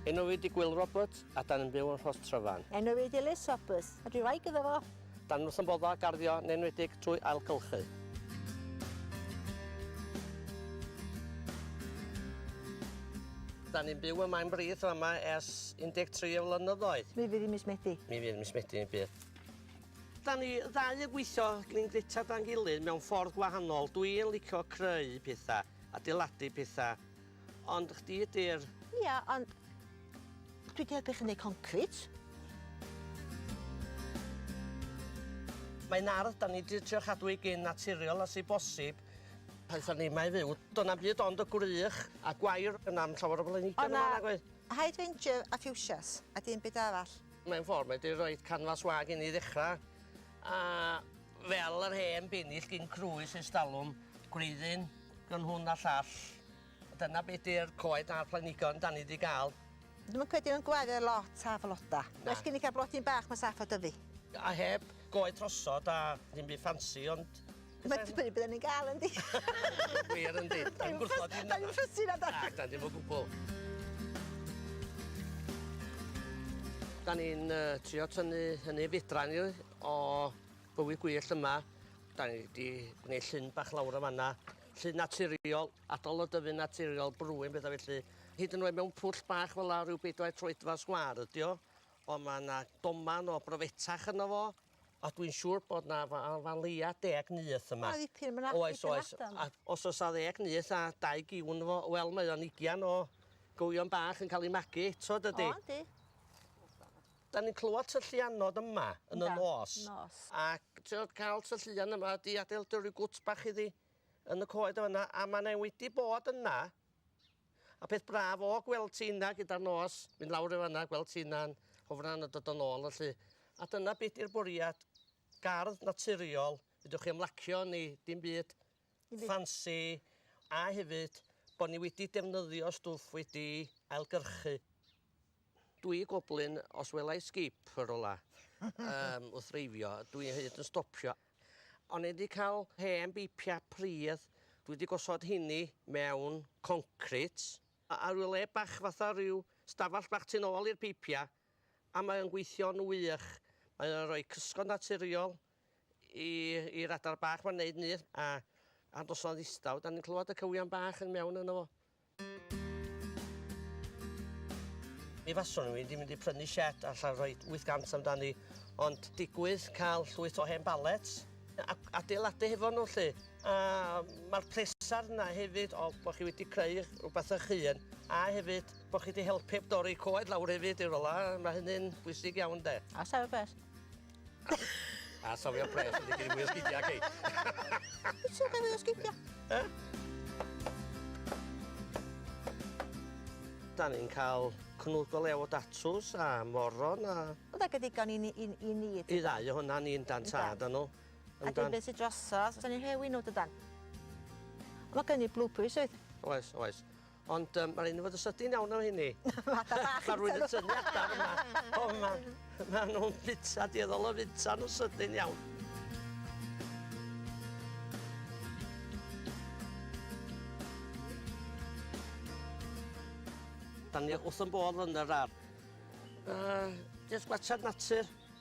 Enw fi di Gwyl Roberts a dan yn byw yn Rhos Tryfan. Enw fi di Liz Roberts a dwi wraig iddo fo. Dan wrth yn bodda garddio yn enwedig trwy ailgylchu. Da ni'n byw yma yn Brith yma ers 13 o flynyddoedd. Mi fydd i mis Medi. Mi fydd mis Medi yn bydd. Dan ni ddau yn gweithio gin Greta dan gilydd mewn ffordd gwahanol. Dwi yn licio creu petha, adeiladu petha, ond chdi ydi'r... Ia, ond dwi 'di helpu chi neu' concrit. Mae'n ardd dan ni 'di trio chadw i gyn naturiol os i bosib. Pan sa ni 'ma i fyw, do' na'm byd ond y gwrych a gwair, 'na'm llawer o blanhigion yn fan 'na nagoedd? O'na hydrangea a fuchsias a dim byd arall. Mae'n ffordd mae 'di roid canfas wag i ni ddechra a fel yr hen binill gin crwys ers dalwm, gwreiddyn gwn hwn a llall. Dyna be' 'di'r coed a'r planhigion 'dan ni 'di ga'l. Dwi'm yn credu mewn gwaredd lot a floda. Na. Well gen i ca'l blodyn bach ma'n saff a dyfu. A heb goed trosod a ddim by' ffansi ond Mae'n dibynnu be' 'yn ni'n ga'l yndi? Wir yndi. Dim gwrthod dim... 'Dan ni'm fussy nadan? Nadan dim o gwbwl. 'Dan ni'n yy trio tynnu hynny fedran ni o bywyd gwyllt yma. 'Dan ni 'di gneud llyn bach lawr y' fan 'na. Llyn naturiol, atal y dyfu naturiol, brwyn betha felly. Hyd yn oed mewn pwll bach fel 'a ryw bedwair troedfadd sgwâr ydi o. On' ma' 'na doman o brofetach yno fo. A dwi'n siŵr bod 'na fa- o fa leia deg nyth yma. Mae dipyn ma' 'na dipyn Oes oes a os o's 'a ddeg nyth a dau giwn efo wel mae o'n ugian o gywion bach yn ca'l 'u magu eto dydi? O yndi. 'Dan ni'n clywad tylluanod yma yn y nos. Yndan nos. Ac t'od ca'l tylluan yma 'di adeiladu ryw gwt bach iddi yn y coed y' fan 'na a ma' 'ne wedi bod yna A peth braf o gweld ti yna gyda'r nos, mynd lawr i fanna, gweld ti yna'n hofran a dod yn ôl felly. A dyna be' 'di'r bwriad, gardd naturiol, fedrwch chi ymlacio yn 'i, dim byd ffansi, a hefyd bo' ni wedi defnyddio stwff wedi ailgyrchu. Dw i goblyn, os wela i sgip yn rwla yym wrth dreifio, dw i hyd yn stopio. O'n i 'di cael hen beipiau pridd, dwi 'di gosod heini mewn concrit, a ryw le bach fatha ryw stafell bach tu nôl i'r peipiau, a mae o'n gweithio'n wych. Mae o'n rhoi cysgod naturiol i i'r adar bach 'ma'n neud nyth, a a noson ddistaw 'dan ni'n clywed y cywion bach yn mewn yno fo. Mi faswn i'n mynd i mynd i prynu sied allan rhoi 800 amdani, ond digwydd cael llwyth o hen balets a adeiladu hefo nhw lly. A mae'r pleser yna hefyd o bod chi wedi creu rhywbeth eich hun a hefyd bod chi wedi helpu dorri coed lawr hefyd i rola, mae hynny'n bwysig iawn de. A sefydlu beth? A sofio pres yn digyn mwy o sgidia, cei. Wyt ti'n cael mwy o sgidia? E? Da ni'n cael cnwd go lew o datws a moron a... Oedd ag y ddigon i ni... i ni... I ddau o hwnna ni'n dan tad o nhw. A dyn beth sy'n drosodd, os o'n i'n rhewi nhw dydan. Mae gen i blue peas oedd? Oes, oes. Ond yym ma' raid i ni fod yn sydyn iawn efo rheini. Fatha bach yn tynnu. Ma' rwyn yn tynnu adar yma. O ma' ma' nw'n bita dueddol o fita n'w sydyn iawn. Dan ni wrth 'yn bodd yn yr ardd. Yy jyst gwatsiad natur.